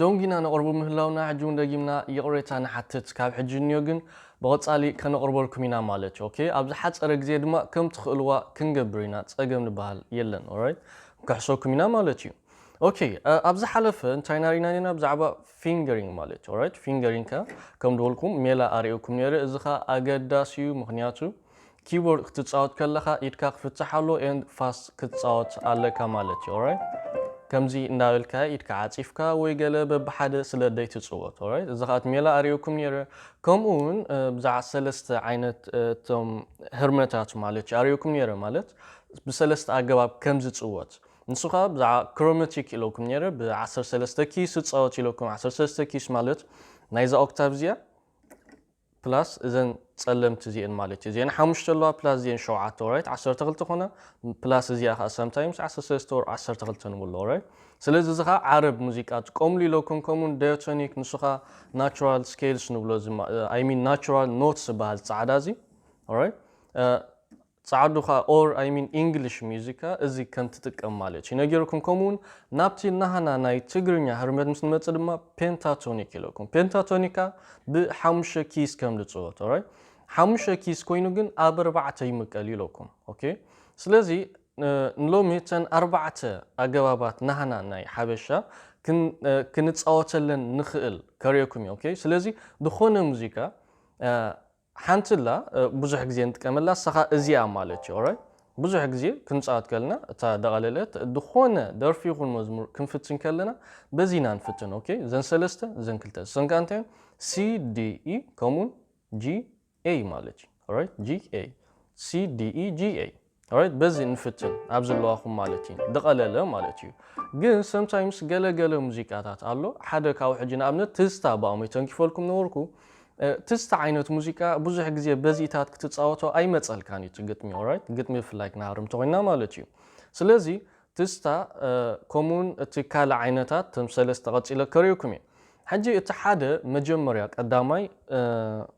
ዶንጊና ነቕርቡ ምህላውና ሕጂ ውን ደጊምና ይቕሬታ ንሓትት ካብ ሕጂ እንዮ ግን ብቐጻሊ ከነቕርበልኩም ኢና ማለት እዩ ኦኬ ኣብ ዝሓጸረ ግዜ ድማ ከም ትኽእልዋ ክንገብር ኢና ጸገም ልበሃል የለን ኦራይት ንክሕሰኩም ኢና ማለት እዩ ኦኬ ኣብ ዝሓለፈ እንታይ ኢና ሪኢና ኔርና ብዛዕባ ፊንገሪንግ ማለት እዩ ኦራይት ፊንገሪንግ ከ ከም ድበልኩም ሜላ ኣርእየኩም ኔረ እዚ ከኣ ኣገዳሲ እዩ ምኽንያቱ ኪቦርድ ክትጻወት ከለኻ ኢድካ ክፍታሕ ኣለዎ and fast ክትጻወት ኣለካ ማለት እዩ alright ከምዚ እንዳበልካ ኢድካ ዓጺፍካ ወይ ገለ በብሓደ ስለ ደይትጽወት alright እዚ ከኣ ሜላ ኣርእየኩም ነይረ ከምኡ ውን ብዛዕባ ሰለስተ ዓይነት እቶም ህርመታት ማለት እዩ ኣርእየኩም ነይረ ማለት ብሰለስተ ኣገባብ ከም ዝጽወት ንሱ ከኣ ብዛዕባ ክሮማቲክ ኢለኩም ነይረ ብ13 ኪስ ዝጻወት ኢለኩም 13 ኪስ ማለት ናይዛ ኦክታቭ እዚኣ ፕላስ እዘን ጸለምቲ እዚኤን ማለት እዩ። እዚኤን ሓሙሽተ ኣለዋ ፕላስ እዚኤን ሸውዓተ ኦራይት ዓሰርተ ክልተ ኮና ፕላስ እዚኣ ከኣ ሳምታይምስ ዓሰርተ ሰለስተ ኦር ዓሰርተ ክልተ ንብሎ ኦራይት ስለዚ እዚ ከኣ ዓረብ ሙዚቃ ጥቀምሉ ኢለኩም ከምኡውን ዳዮቶኒክ ንሱ ከኣ ናቹራል ስኬልስ ንብሎ እዚ ኣይ ሚን ናቹራል ኖትስ ዝበሃል ጻዕዳ እዚ ኦራይት ጻዓዱ ካኣ or I mean English music እዚ ከም ትጥቀም ማለት እዩ ነጊሩኩም ከምኡ ውን ናብቲ ናሃና ናይ ትግርኛ ህርመት ምስ ንመጽእ ድማ Pentatonic ኢለኩም Pentatonic ካኣ ብ ሓሙሽተ ኪይስ ከም ልጽወት alright ሓሙሽተ ኪይስ ኮይኑ ግን ኣብ ኣርባዕተ ይምቀል እዩ ኢለኩም ok ስለዚ ንሎሚ እተን ኣርባዕተ ኣገባባት ናሃና ናይ ሓበሻ ክንጻወተለን ንክእል ከርእየኩም እየ ok ስለዚ ድኮነ ሙዚቃ ሓንቲ ኣላ ብዙሕ ግዜ ንጥቀመላ ንሳኻ እዚኣ ማለት እዩ ኦራይት ብዙሕ ግዜ ክንጻወት ከለና እታ ደቓለለት ዝኾነ ደርፊ ይኹን መዝሙር ክንፍትን ከለና በዚ ኢና ንፍትን ኦኬ እዘን ሰለስተ እዘን ክልተ እሰን ከኣ እንታይ እየን ሲ ዲ ኢ ከምኡውን ጂ ኤይ ማለት እዩ ኦራይት ጂ ኤይ ሲ ዲ ኢ ጂ ኤይ ኣራይት በዚ ንፍትን ኣብ ዘለዋኹም ማለት እዩ ድቐለለ ማለት እዩ ግን ሰምታይምስ ገለ ገለ ሙዚቃታት ኣሎ ሓደ ካብኡ ሕጂ ንኣብነት ትዝታ ብኣሞይ ተንኪፈልኩም ነበርኩ ትዝታ ዓይነት ሙዚቃ ብዙሕ ግዜ በዚታት ክትጻወቶ ኣይመጸልካን እዩ እቲ ግጥሚ ኦራይት ግጥሚ ብፍላይ ክንሃርም ተኾይና ማለት እዩ ስለዚ ትዝታ ከምኡውን እቲ ካልእ ዓይነታት ተም ሰለስተ ቀጺለ ከርእዩኩም እየ ሕጂ እቲ ሓደ መጀመርያ ቀዳማይ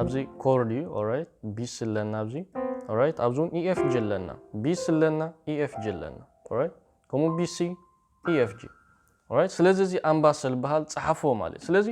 ኣብዚ ኮርድ እዩ ኦራይት ቢስ ኣለና ኣብዚ ኦራይት ኣብዚ እውን ኢኤፍጂ ኣለና ቢስ ኣለና ኢኤፍጂ ኣለና ኦራይት ከምኡ ቢሲ ኢኤፍጂ ኦራይት ስለዚ እዚ ኣምባሰል በሃል ጸሓፎ ማለት ስለዚ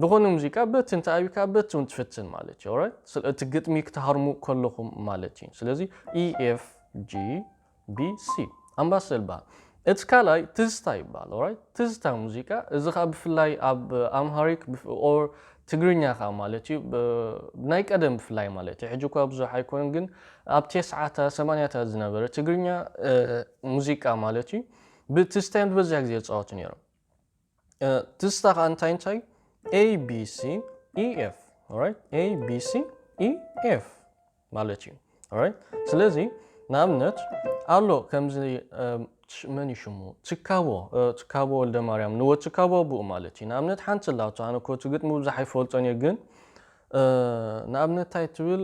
ዝኾነ ሙዚቃ በቲ እንተ ኣብካ በቲ እውን ትፍትን ማለት እዩ ኦራይት እቲ ግጥሚ ክትሃርሙ ከለኹም ማለት እዩ ስለዚ ኢኤፍጂ BC ኣምባሰል ይበሃል እቲ ካልኣይ ትዝታ ይበሃል ኦራይት ትዝታ ሙዚቃ እዚ ከዓ ብፍላይ ኣብ ኣምሃሪክ ኦር ትግርኛ ከዓ ማለት እዩ ናይ ቀደም ብፍላይ ማለት እዩ ሕጂ እኳ ብዙሕ ኣይኮነን ግን ኣብ ቴስዓታ ሰማንያታት ዝነበረ ትግርኛ ሙዚቃ ማለት እዩ ብትዝታ እዮም ዝበዝሕ ግዜ ዝፃወቱ ነይሮም ትዝታ ከኣ እንታይ እንታይ abc ef ኦራይት abc ef ማለት እዩ ኦራይት ስለዚ ንኣብነት ኣሎ ከምዚ መን እዩ ሽሙ ትካቦ ትካቦ ወልደ ማርያም ንወ ትካቦ ኣቡኡ ማለት እዩ ንኣብነት ሓንቲ ኣላቶ ኣነ ኮ እቲ ግጥሚ ብዙሕ ኣይፈልጦን እየ ግን ንኣብነት እንታይ ትብል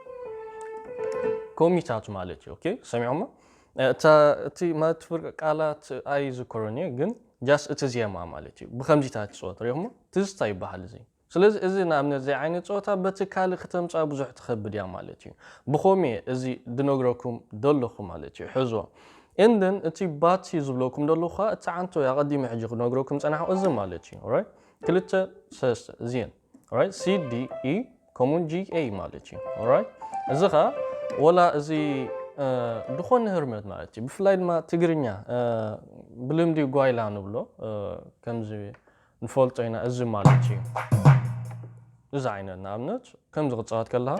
ኮሚታት ማለት እዩ። ኦኬ ሰሚዖሞ እቲ ማለት ፍርቂ ቃላት ኣይዝክሮን እየ ግን ጃስ እቲ ዜማ ማለት እዩ ብከምዚታት ትፅወት ሪኦሞ ትዝታ ይበሃል እዚ ስለዚ እዚ ንኣብነት ዘይ ዓይነት ፀወታ በቲ ካልእ ክተምፃ ብዙሕ ትኸብድ እያ ማለት እዩ ብኸም እየ እዚ ድነግረኩም ደለኹ ማለት እዩ ሕዝዎ እንን እቲ ባቲ ዝብለኩም ደለኹ ከዓ እቲ ዓንቶ ኣቐዲመ ሕጂ ክነግረኩም ፀናሕኩ እዚ ማለት እዩ ክልተ ሰለስተ እዚን ኦራይት ሲ ዲ ኢ ከምኡውን ጂ ኤ ማለት እዩ ኦራይት እዚ ከዓ ወላ እዚ ዝኾነ ህርመት ማለት እዩ ብፍላይ ድማ ትግርኛ ብልምዲ ጓይላ ንብሎ ከምዚ ንፈልጦ ኢና እዚ ማለት እዩ እዚ ዓይነት ንኣብነት ከምዚ ክፃወት ከለካ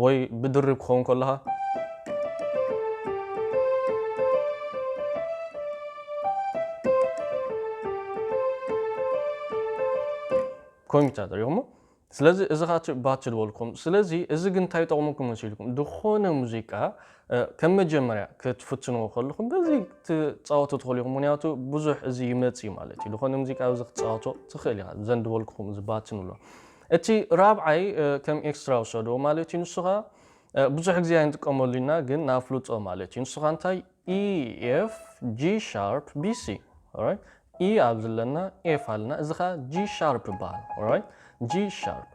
ወይ ብድርብ ክኸውን ከለኻ። ኮምፒተር ሪኹሞ ስለዚ እዚ ካ ባች ዝበልኩም ስለዚ እዚ ግን እንታይ ይጠቕመኩም መሲልኩም ዝኾነ ሙዚቃ ከም መጀመርያ ክትፍትንዎ ከለኹም በዚ ትፃወቱ ትኽእሉ ኢኹም ምክንያቱ ብዙሕ እዚ ይመፅ ማለት እዩ ዝኾነ ሙዚቃ እዚ ክትፃወቶ ትኽእል ኢኻ ዘንድበልኩኹም እዚ ባች ንብሎ እቲ ራብዓይ ከም ኤክስትራ ውሰዶ ማለት እዩ ንሱ ከኣ ብዙሕ ግዜ ኣይንጥቀመሉ ኢና ግን ንኣፍልጦ ማለት እዩ ንሱ ከኣ እንታይ EF G sharp BC ኦራይት E ኣብዚ ኣለና ኤፍ ኣለና እዚ ከኣ G sharp ይበሃል ኦራይት G sharp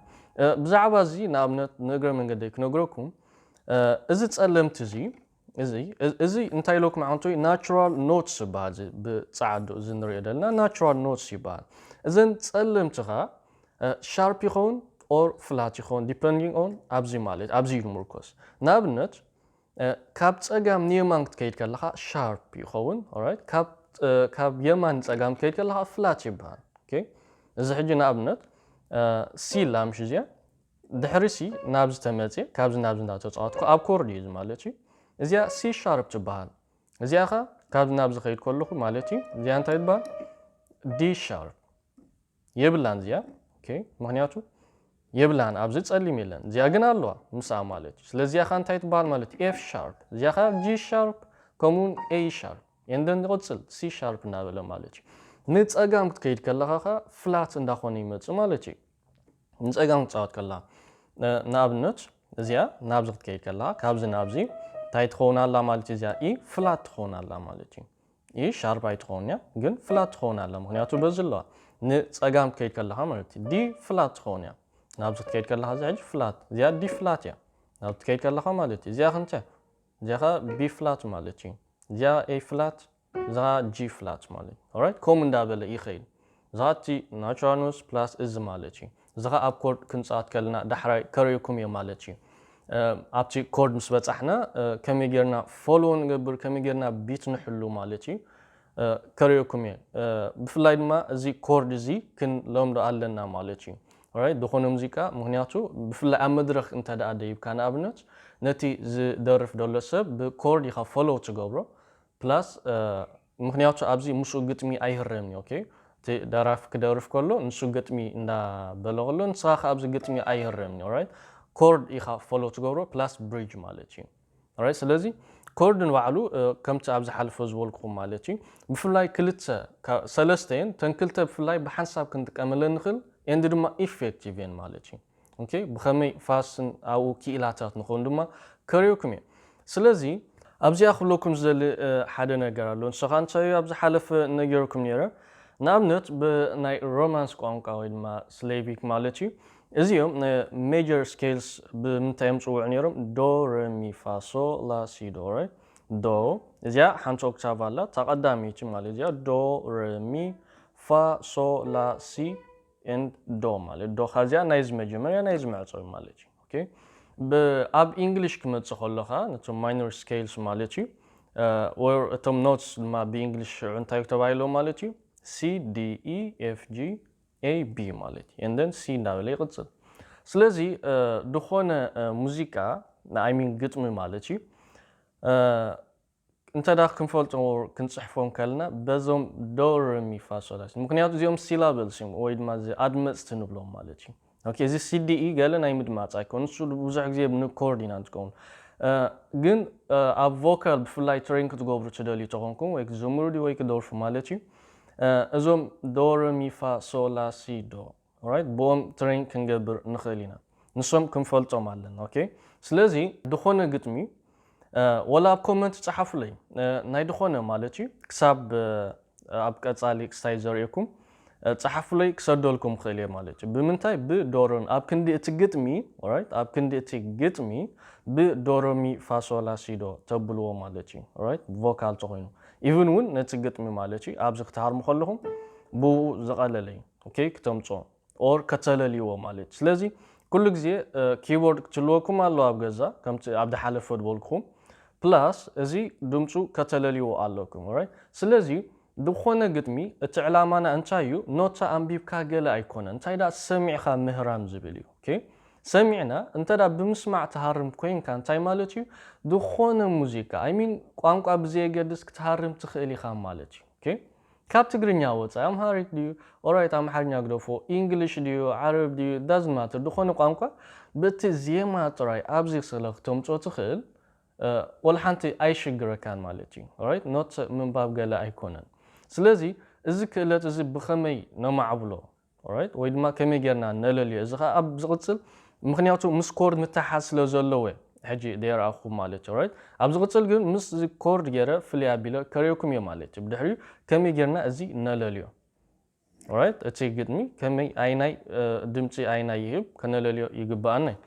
ብዛዕባ እዚ ንኣብነት ንእግረ መንገደይ ክነግረኩም እዚ ጸለምቲ እዚ እዚ እዚ እንታይ ኢሎኩም ኣንቱይ ናቹራል ኖትስ ይበሃል እዚ ብጸዓዱ እዚ ንሪኦ ዘለና ናቹራል ኖትስ ይበሃል እዘን ጸለምቲ ከኣ ሻርፕ ይኸውን ኦር ፍላት ይኸውን ዲፐንዲንግ ኦን ኣብዚ ማለት ኣብዚ እዩ ዝምርኮስ ንኣብነት ካብ ጸጋም ንየማን ክትከይድ ከለኻ ሻርፕ ይኸውን ኦራይት ካብ ካብ የማን ንጸጋም ክትከይድ ከለኻ ፍላት ይበሃል ኦኬ እዚ ሕጂ ንኣብነት ሲላ ምሽ እዚኣ ድሕሪሲ ናብዚ ተመጽየ ካብዚ ናብዚ እንዳተጻወትኩ ኣብ ኮርድ ኢዩ እዚ ማለት ኢዩ እዚኣ ሲ ሻርፕ ትበሃል እዚኣ ከኣ ካብዚ ናብዚ ከይድ ከለኹ ማለት ኢዩ እዚኣ እንታይ ትበሃል ዲ ሻርፕ የብላን እዚኣ ኦኬ ምክንያቱ የብላን ኣብዚ ጸሊም የለን እዚኣ ግን ኣለዋ ምስኣ ማለት እዩ ስለዚ እዚኣ እንታይ ትበሃል ማለት ኤፍ ሻርፕ እዚኣ ከዓ ጂ ሻርፕ ከምኡውን ኤ ሻርፕ ኤንደን ይቕፅል ሲ ሻርፕ እናበለ ማለት እዩ ንፀጋም ክትከይድ ከለኻ ከዓ ፍላት እንዳኾነ ይመፅእ ማለት እዩ ንጸጋም ክትጻወት ከላ ንኣብነት እዚኣ ናብዚ ክትከይድ ከላ ካብዚ ናብዚ እንታይ ትኸውን ኣላ ማለት እዩ እዚኣ ኢ ፍላት ትኸውን ኣላ ማለት እዩ ኢ ሻርፕ ኣይትኸውን እያ ግን ፍላት ትኸውን ኣላ ምክንያቱ በዚ ኣለዋ ንጸጋም ክትከይድ ከለካ ማለት እዩ ዲ ፍላት ትኸውን እያ ናብዚ ክትከይድ ከለካ እዚ ሕጂ ፍላት እዚኣ ዲ ፍላት እያ ናብዚ ትከይድ ከለካ ማለት እዩ እዚኣ ክንተ እዚኣ ቢ ፍላት ማለት እዩ እዚኣ ኤ ፍላት እዚኻ G flat ማለት እዩ ኦራይት ከምኡ እንዳበለ ይኸይድ እዚኻ እቲ ናቹራል ኖት ፕላስ እዚ ማለት እዩ እዚኻ ኣብ ኮርድ ክንጻወት ከለና ዳሕራይ ከሪኩም እየ ማለት እዩ ኣብቲ ኮርድ ምስ በጻሕና ከመይ ጌርና ፎሎ ንገብር ከመይ ጌርና ቢት ንሕሉ ማለት እዩ ከሪኩም እየ ብፍላይ ድማ እዚ ኮርድ እዚ ክንለምዶ ኣለና ማለት እዩ ኦራይት ዝኾነ ሙዚቃ ምክንያቱ ብፍላይ ኣብ መድረኽ እንተ ደኣ ደይብካ ንኣብነት ነቲ ዝደርፍ ደሎ ሰብ ብኮርድ ኢኻ ፎሎ ትገብሮ ፕላስ ምክንያቱ ኣብዚ ምስኡ ግጥሚ ኣይህረምን እዩ ኦኬ እቲ ደራፊ ክደርፍ ከሎ ንሱ ግጥሚ እንዳ በለ ከሎ ንስኻ ከ ኣብዚ ግጥሚ ኣይህረምን እዩ ኦራይት ኮርድ ኢኻ ፎሎ ትገብሮ ፕላስ ብሪጅ ማለት እዩ ኦራይት ስለዚ ኮርድ ንባዕሉ ከምቲ ኣብ ዝሓለፈ ዝበልኩኹም ማለት እዩ ብፍላይ ክልተ ሰለስተ እየን ተን ክልተ ብፍላይ ብሓንሳብ ክንጥቀመለን ንኽእል ኤንድ ድማ ኢፌክቲቭ እየን ማለት እዩ ኦኬ ብኸመይ ፋስን ኣብኡ ኪኢላታት ንኾን ድማ ከርእየኩም እየ። ስለዚ ኣብዚኣ ክብለኩም ዝደሊ ሓደ ነገር ኣሎ ንሱ ከኣ እንታይ እዩ ኣብ ዝሓለፈ ነጊረኩም ነይረ ንኣብነት ብናይ ሮማንስ ቋንቋ ወይ ድማ ስሌቪክ ማለት እዩ እዚኦም ን ሜጀር ስኬልስ ብምንታይ እዮም ዝጽውዑ ነይሮም ዶ ረ ሚ ፋ ሶ ላ ሲ ዶ ረ ዶ እዚኣ ሓንቲ ኦክታቭ ኣላ እታ ቀዳመይቲ ማለት እዚኣ ዶ ረ ሚ ፋ ሶ ላ ሲ and ዶ ማለት ዶኻ እዚኣ ናይዚ መጀመርያ ናይዚ መዕጾዊ ማለት እዩ ኦኬ ብ ኣብ ኢንግሊሽ ክመጽእ ከሎ ከኣ ነቶም ማይኖር ስኬልስ ማለት እዩ or እቶም ኖትስ ድማ ብእንግሊሽ ሽዑ እንታይ ተባሂሎም ማለት እዩ C D E F G A B ማለት እዩ and then C እንዳበለ ይቕጽል ስለዚ ዝኾነ ሙዚቃ I mean ግጥሚ ማለት እዩ እንተ ክንፈልጦ ክንጽሕፎ እንከለና በዞም ዶ ረ ሚ ፋ ሶ ላ ሲ ምኽንያቱ እዚኦም ሲላብልስ እዮም ወይ ድማ ኣድመጽቲ ንብሎም ማለት እዩ ኦኬ እዚ ሲዲ ኢ ገለ ናይ ምድማጽ ኣይኮን ንሱ ብዙሕ ግዜ ን ኮርድ ኢና ንጥቀሙሉ ግን ኣብ ቮካል ብፍላይ ትሬን ክትገብሩ ትደልዩ ተኾንኩም ወይ ክትዝምሩ ድዩ ወይ ክደርፉ ማለት እዩ እዞም ዶ ረ ሚ ፋ ሶ ላ ሲ ዶ ኦራይት ብኦም ትረይን ክንገብር ንክእል ኢና ንሶም ክንፈልጦም ኣለና ኦኬ ስለዚ ድኮነ ግጥሚ ወላ ኣብ ኮመንት ጸሓፉለይ ናይ ድኮነ ማለት እዩ ክሳብ ኣብ ቀጻሊ ክስታይ ዘርእየኩም ጸሓፉለይ ክሰደልኩም ክእል እየ ማለት እዩ ብምንታይ ብ ዶሮን ኣብ ክንዲ እቲ ግጥሚ ኦራይት ኣብ ክንዲ እቲ ግጥሚ ብ ዶሮ ሚ ፋ ሶ ላ ሲ ዶ ተብልዎ ማለት እዩ ኦራይት ብ ቮካል ተኮይኑ ኢቭን ውን ነቲ ግጥሚ ማለት እዩ ኣብዚ ክትሃርሙ ከለኩም ብኡ ዝቀለለ እዩ። ኦኬ ክተምጽኦ ኦር ከተለልይዎ ማለት እዩ ስለዚ ኩሉ ግዜ ኪቦርድ ክትልወኩም ኣሎ ኣብ ገዛ ከምቲ ኣብ ዝሓለፈ ዝበልኩኹም ፕላስ እዚ ድምጹ ከተለልይዎ ኣለኩም ኦራይት ስለዚ ዝኾነ ግጥሚ እቲ ዕላማና እንታይ እዩ ኖታ ኣንቢብካ ገለ ኣይኮነ እንታይ ደኣ ሰሚዕካ ምህራም ዝብል እዩ ኦኬ ሰሚዕና እንተ ብምስማዕ ትሃርም ኮይንካ እንታይ ማለት እዩ ዝኾነ ሙዚቃ ኣይሚን ቋንቋ ብዘየገድስ ክትሃርም ትኽእል ኢኻ ማለት እዩ ኦኬ ካብ ትግርኛ ወጻኢ ኣምሃሪክ ድዩ ኦራይት ኣምሓርኛ ግደፎ ኢንግሊሽ ድዩ ዓረብ ድዩ ዳዝንት ማተር ድኾነ ቋንቋ ብቲ ዜማ ጥራይ ኣብዚ ስለ ክተምጾ ትኽእል ወልሓንቲ ኣይሽግረካን ማለት እዩ ኦራይት ኖት ምንባብ ገለ ኣይኮነን ስለዚ እዚ ክእለት እዚ ብኸመይ ነማዕብሎ Alright ወይ ድማ ከመይ ጌርና ነለልዮ እዚ ከኣ ኣብ ዝቅጽል ምክንያቱ ምስ ኮርድ ምትሕሓዝ ስለ ዘለዎ እየ ሕጂ ደየርኣኩኩም ማለት እዩ Alright ኣብ ዝቅጽል ግን ምስ እዚ ኮርድ ጌረ ፍልይ ኣቢለ ከርእየኩም እየ ማለት እዩ ብድሕሪኡ ከመይ ጌርና እዚ ነለልዮ Alright እቲ ግጥሚ ከመይ ኣይናይ ድምጺ ኣይናይ ይህብ ከነለልዮ ይግብኣና እዩ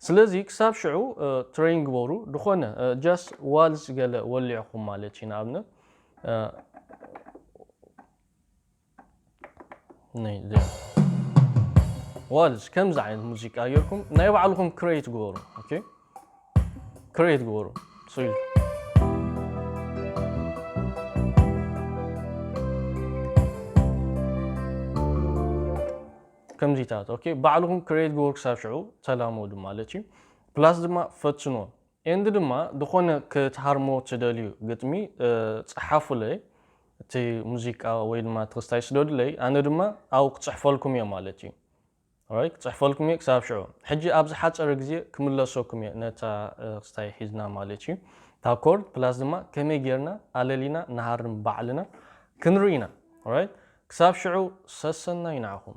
ስለዚ ክሳብ ሽዑ ትረይን ግበሩ ድኮነ ጃስት ዋልስ ገለ ወሊዕኩም ማለት እዩ ንኣብነት ዋልስ ከምዚ ዓይነት ሙዚቃ ጌርኩም ናይ ባዕልኹም ክሬት ግበሩ ኦኬ ክሬት ግበሩ ጽዩ ከምዚታት ኦኬ ባዕልኹም ክሬት ግበሩ ክሳብ ሽዑ ተላመዱ ማለት እዩ ፕላስ ድማ ፈትንዎ ኤንድ ድማ ድኾነ ክትሃርሞ ትደልዩ ግጥሚ ጽሓፉለይ እቲ ሙዚቃ ወይ ድማ እቲ ክስታይ ስደዱለይ ኣነ ድማ ኣው ክጽሕፈልኩም እየ ማለት እዩ ኦራይት ክጽሕፈልኩም እየ ክሳብ ሽዑ ሕጂ ኣብ ዝሓጸረ ግዜ ክምለሰኩም እየ ነታ ክስታይ ሒዝና ማለት እዩ እታ ኮርድ ፕላስ ድማ ከመይ ጌርና ኣለሊና ንሃርም ባዕልና ክንርኢ ኢና ኦራይት ክሳብ ሽዑ ሰሰናዩ ንዓኹም።